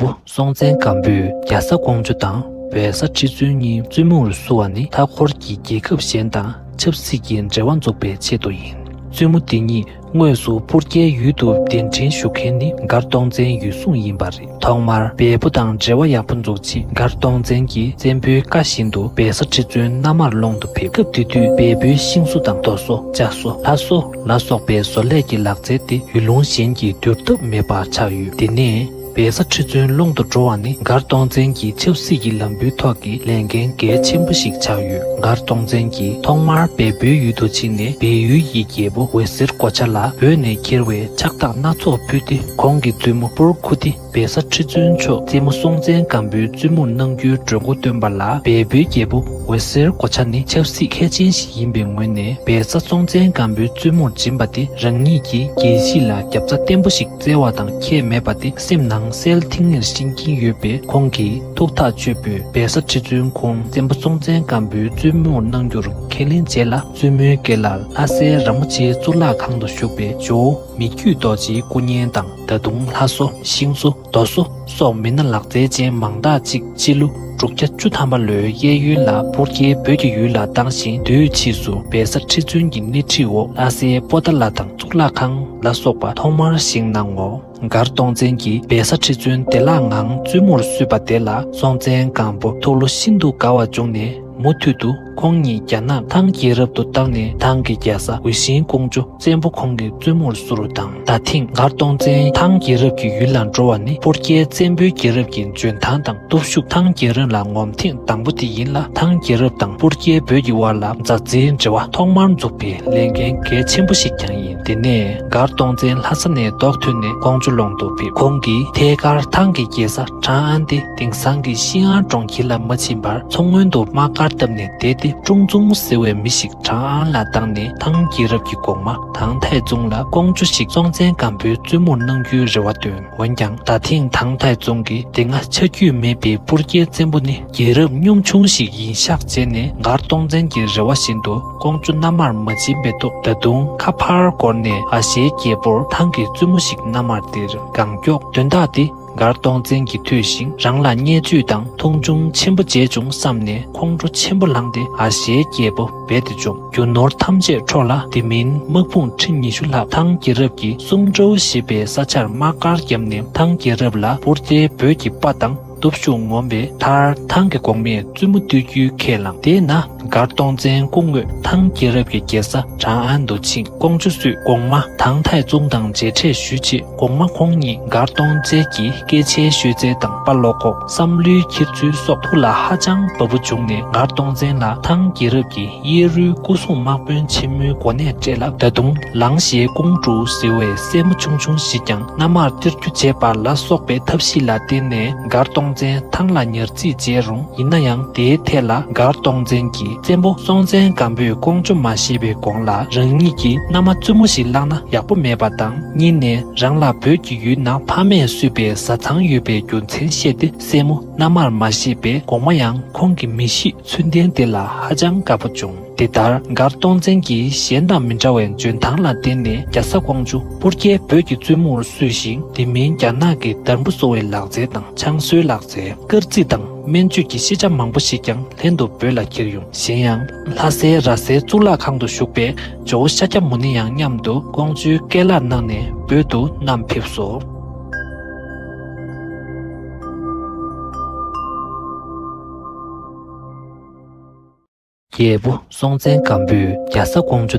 པོ་སྲོང་བཙན་སྒམ་པོས་རྒྱ་བཟའ་ཀོང་ཇོ་དང་བལ་བཟའ་ཁྲི་བཙུན་གཉིས་བཙུན་མོར་བསུ་བ་ནི་མཐའ་འཁོར་གྱི་རྒྱལ་ཁབ་གཞན་དང་ཆབ་སྲིད་ཀྱི་འབྲེལ་བ་འཛུགས་པའི་ཆེད་དུ་ཡིན། བཙུན་མོ་འདི་གཉིས་དངོས་སུ་སྤུར་རྒྱལ་ཡུལ་དུ་གདན་འདྲེན་ཞུ་མཁན་ནི་མགར་སྟོང་བཙན་ཡུལ་སྲུང་ཡིན་པ་རེད་ཐོག་མར་འབེལ་པོ་དང་འབྲེལ་བ་ཡག་པོ་འཛུགས་རྗེས་མགར་སྟོང་བཙན་གྱིས་བཙན་པོའི་བཀའ་བཞིན་དུ་འབེལ་ས་ཁྲི་བཙུན་མནའ་མར་སློང་དུ་ཕེབས་སྐབས་དེ་དུས་འབེལ་པོའི་ཤིང་བཟོ་དང་རྡོ་བཟོ་ལྕགས་བཟོ་ལྷ་བཟོ་ལ་སོགས་པའི་བཟོ་ལས་ཀྱི་ལག་རྩལ་དེ་ཡུལ་ལུང་གཞན་གྱིས་བསྒྱུར་ཐབས་མེད་པ་ཆགས་ཡོད་དེ་ནས། བལ་བཟའ་ཁྲི་བཙུན་ཀློང་དུ་འགྲོ་བ་ནི་མགར་སྟོང་བཙན་གྱི་ཆབ་སྲིད་ཀྱི་ལམ་བུའི་ཐོག་གི་ལས་འགན་གལ་ཆེན་པོ་ཞིག་ཆགས་ཡོད་མགར་སྟོང་བཙན་གྱིས་ཐོག་མར་བལ་པོའི་ཡུལ་དུ་ཕྱིན་ནས་བལ་ཡུལ་གྱི་རྒྱལ་པོ་འོད་ཟེར་སྒོ་ཆ་ལ་བོད་ནས་འཁྱེར་བའི་ཕྱག་རྟགས་སྣ་ཚོགས་ཕུལ་ཏེ་ཁོང་གི་བཙུན་མོ་པུར་ཁུ་ཏི་བལ་བཟའ་ཁྲི་བཙུན་མཆོག་རྩེ་མོ་སྲོང་བཙན་སྒམ་པོའི་བཙུན་མོར་གནང་རྒྱུའི་གྲོས་མགོ་བཏོན་པ་ལ་བལ་པོའི་རྒྱལ་པོ་འོད་ཟེར་སྒོ་ཆ་ནི་ཆབ་སྲིད་མཁས་ཅན་ཞིག་ཡིན་པའི་ངོས་ནས་བལ་བཟའ་སྲོང་བཙན་སྒམ་པོའི་བཙུན་མོར་སྦྱིན་པ་དེ་རང་ཉིད་ཀྱི་རྒྱལ་སྲིད་ལ་རྒྱབ་རྩ་བརྟན་པོ་ཞིག་བཙལ་བ་དང་ཁྱད་མེད་པ་དེ་སེམས་ནང་གསལ་ཐིང་ངེར་བཞེངས་ཀྱིན་ཡོད་པས་ཁོང་གིས་ཐུགས་ཐག་གཅོད་པོས་རྦད་ས་ཁྲི་བཙུན་ཁོང་བཙན་པོ་སྲོང་བཙན་སྒམ་པོའི་བཙུན་མོར་གནང་རྒྱུར་ཁས་ལེན་བྱས་ལ་བཙུན་མོའི་སྐེ་ལ་ལྷ་སའི་ར་མོ་ཆེའི་གཙུག་ལག་ཁང་དུ་བཞུགས་པའི་ཇོ་བོ་མི་བརྒྱུད་རྡོ་རྗེའི་སྐུ་བརྙན་དང་ད་དུང་ལྷ་བཟོ་ཤིང་བཟོ་རྡོ་བཟོ། སོགས་མི་སྣ་ལག་རྩལ་ཅན་མང་དག་ཅིག་སྤྱི་ལོ་དྲུག་བརྒྱ་བཅུ་ཐམ་པ་ལོའི་གཡས་གཡོན་ལ་པུར་རྒྱལ་བོད་ཀྱི་ཡུལ་ལ་བཏང་ཞིང་བསྡུས་ཕྱིས་སུ་བལ་བཟའ་ཁྲི་བཙུན་གྱི་སྣེ་ཁྲིད་འོག་ལྷ་སའི་པོ་ཏཱ་ལ་དང་གཙུག་ལག་ཁང་ལ་སོགས་པ་ཐོག་མར་བཞེངས་གནང་ངོ། མགར་སྟོང་བཙན་གྱིས་བལ་བཟའ་ཁྲི་བཙུན་བདེ་བླག་ངང་བཙུན་མོར་བསུས་པ་དེ་ལ་སྲོང་བཙན་སྒམ་པོ་ཐུགས་བློ་ཤིན་ཏུ་དགའ་བ་བྱུང་ནས་མུ་མཐུད་དུ། ཁོང་ཉིད་རྒྱ་ནག་ཐང་རྒྱལ་རབས་དུ་བཏང་ནས་ཐང་གི་རྒྱལ་ས་འོད་ཤིང་ཀོང་ཇོ་བཙན་པོ་ཁོང་གི་བཙུན་མོར་བསུ་རུ་དང་ད་ཐེངས་མགར་སྟོང་བཙན་ཐང་རྒྱལ་རབས་ཀྱི་ཡུལ་ལ་འགྲོ་བ་ནི་པོར་རྒྱལ་བཙན་པོའི་རྒྱལ་རབས་ཀྱི་འཇོན་ཐང་དང་སྟོབས་ཤུགས་ཐང་རྒྱལ་རབས་ལ་ངོམ་ཐེངས་དང་པོ་དེ་ཡིན་ལ་ཐང་རྒྱལ་རབས་དང་པོར་རྒྱལ་བོད་ཀྱི་དབར་ལ་མཛའ་བརྩེའི་འབྲེལ་བ་ཐོག་མར་འཛུགས་པའི་ལས་འགན་གལ་ཆེན་པོ་ཞིག་ཀྱང་ཡིན་དེ་ནས་མགར་སྟོང་བཙན་ལྷ་ས་ནས་རྡོག་ཐོན་ནས་ཀོང་ཇོ་ལོང་དུ་ཕེབས་ཁོང་གིས་ཐད་ཀར་ཐང་གི་རྒྱལ་ས་ཁྲང་ཨན་ཏེ། དེང་སང་གི་ཤིན་ཨང་གྲོང་ཁྱེར་ལ་མ་ཕྱིན་པར་མཚོ་སྔོན་དུ་དམག་སྒར་བཏབ་ནས་བསྡད་དེ་ཀྲུང་ཙུང་ཟེར་བའི་མི་ཞིག་ཁྲང་ཨན་ལ་བཏང་ནས་ཐང་རྒྱལ་རབས་ཀྱི་གོང་མ་ཐང་ཐའི་ཙུང་ལ་ཀོང་ཇོ་ཞིག་སྲོང་བཙན་སྒམ་པོའི་བཙུན་མོར་གནང་རྒྱུའི་རེ་བ་བཏོན་འོན་ཀྱང་ད་ཐེངས་ཐང་ཐའི་ཙུང་གིས་དེ་སྔ་ཆ་རྒྱུས་མེད་པའི་སྤུར་རྒྱལ་བཙན་པོ་ནི་རྒྱལ་རབས་གཉོམ་ཆུང་ཞིག་ཡིན་ཤག་བྱས་ནས་མགར་སྟོང་བཙན་གྱི་རེ་བ་བཞིན་དུ་ཀོང་ཇོ་མནའ་མར་མ་བྱིན་པའི་ཐོག་ད་དུང་ཁ་ཕར་བསྐོར་ནས་ཨ་ཞའི་རྒྱལ་པོར་ཐང་གི་བཙུན་མོ་ཞིག་མནའ་མར་སྟེར་གང་མགྱོགས་དོན་དག་འདི། མགར་སྟོང་བཙན་གྱིས་ཐོས་ཤིང་རང་ལ་བརྙས་བཅོས་དང་མཐོང་ཆུང་ཆེན་པོ་བྱས་བྱུང་བསམས་ནས་ཁོང་ཁྲོ་ཆེན་པོ་ལངས་ཏེ་ཨ་ཞའི་རྒྱལ་པོ་རྦད་དེ་འཇོམས། རྒྱུ་ནོར་ཐམས་ཅད་འཕྲོག་ལ་དེ་མིན་དམག་དཔུང་ཁྲི་ཉི་ཤུ་ལྷག་ཐང་རྒྱལ་རབས་ཀྱི་སུམ་ཀྲོའུ་ཞེས་པའི་ས་ཆར་དམག་སྒར་བརྒྱབ་ནས་ཐང་རྒྱལ་རབས་ལ་པུར་རྟའི་འབོད་ཀྱི་དཔའ་དང་སྟོབས་ཤུགས་ངོམས་པའི་མཐར་ཐང་གི་གོང་མས་བཙུན་མོ་བཏུལ་རྒྱུའི་ཁས་བླངས་དེས་ན། མགར་སྟོང་བཙན་སྐུ་དངོས་ཐང་རྒྱལ་རབས་ཀྱི་རྒྱལ་ས་ཁྲང་ཨན་དུ་ཆིང་ཀོང་ཆུ་བསུས་གོང་མ་ཐང་ཐའི་ཙུང་དང་མཇལ་འཕྲད་ཞུས་རྗེས་གོང་མ་ཁོང་གཉིས་མགར་སྟོང་བཙན་གྱི་སྐད་ཆའི་ཤོད་རྩལ་དང་དཔའ་བློ་ཁོག་བསམ་བློའི་འཁྱེར་ཚུལ་སོགས་ཐུགས་ལ་ཧ་ཅང་བབ་པོ་བྱུང་ནས་མགར་སྟོང་བཙན་ལ་ཐང་རྒྱལ་རབས་ཀྱི་གཡས་རུའི་སྐུ་སྲུང་དམག་དཔོན་ཆེན་མོའི་གོ་གནས་སྤྲད་ལ་ད་དུང་ལང་གཞའི་ཀོང་ཀྲུའུ་ཟེར་བའི་སྲས་མོ་ཆུང་ཆུང་ཞིག་ཀྱང་སྔ་མར་གཏེར་རྒྱུ་འབྱེད་པ་ལ་སོགས་པའི་ཐབས་ཤེས་ལ་བརྟེན་ནས་མགར་སྟོང་བཙན་ཐང་ལ་ཉར་རྩིས་བྱས་རུང་ཡིན་ན་ཡང་དེའི་ཐད་ལ་མགར་སྟོང་བཙན་གྱི་བཙན་པོ་སྲོང་བཙན་སྒམ་པོས་ཀོང་ཇོ་མ་ཞེས་པའི་དགོངས་ལ་རང་ཉིད་ཀྱིས་མནའ་མ་བཙུན་མོ་ཞིག་བླངས་ན་ཡག་པོ་མེད་པ་དང་གཉིས་ནས་རང་ལ་བོད་ཀྱི་ཡུལ་ན་ཕ་མས་བསུས་པའི་བཟའ་ཚང་ཡོད་པའི་རྒྱུ་མཚན་བཤད་དེ་སྲས་མོ་མནའ་མར་མ་ཞེས་པའི་དགོངས་མ་ཡང་ཁོང་གི་མི་གཤིས་ཚུལ་ལྡན་དེ་ལ་ཧ་ཅང་དགའ་པོ་བྱུང། འདི་ལྟར་མགར་སྟོང་བཙན་གྱིས་གཞན་དང་མི་འདྲ་བའི་འཇོན་ཐང་ལ་བརྟེན་ནས་རྒྱ་ས་ཀོང་ཇོ་སྤུར་རྒྱལ་བོད་ཀྱི་བཙུན་མོར་གསོས་ཤིང་དེ་མིན་རྒྱ་ནག་གི་དར་འབུ་གསོ་བའི་ལག་རྩལ་དང་ཆང་གསོའི་ལག་རྩལ། སྐར་རྩིས་དང་སྨན་བཅོས་ཀྱི་ཤེས་བྱ་མང་པོ་ཞིག་ཀྱང་ལྷན་དུ་བོད་ལ་ཁྱེར་ཡོང། གཞན་ཡང། ལྷ་སའི་ར་སའི་གཙུག་ལག་ཁང་དུ་བཞུགས་པའི་ཇོ་བོ་ཤཱཀྱ་མུ་ནེ་ཡང་མཉམ་དུ་ཀོང་ཇོའི་སྐལ་ལག་གནང་ནས་བོད་དུ་བསྣམས་ཕེབས་སོ། རྒྱལ་པོ་སྲོང་བཙན་སྒམ་པོས་རྒྱ་བཟའ་ཀོང་ཇོ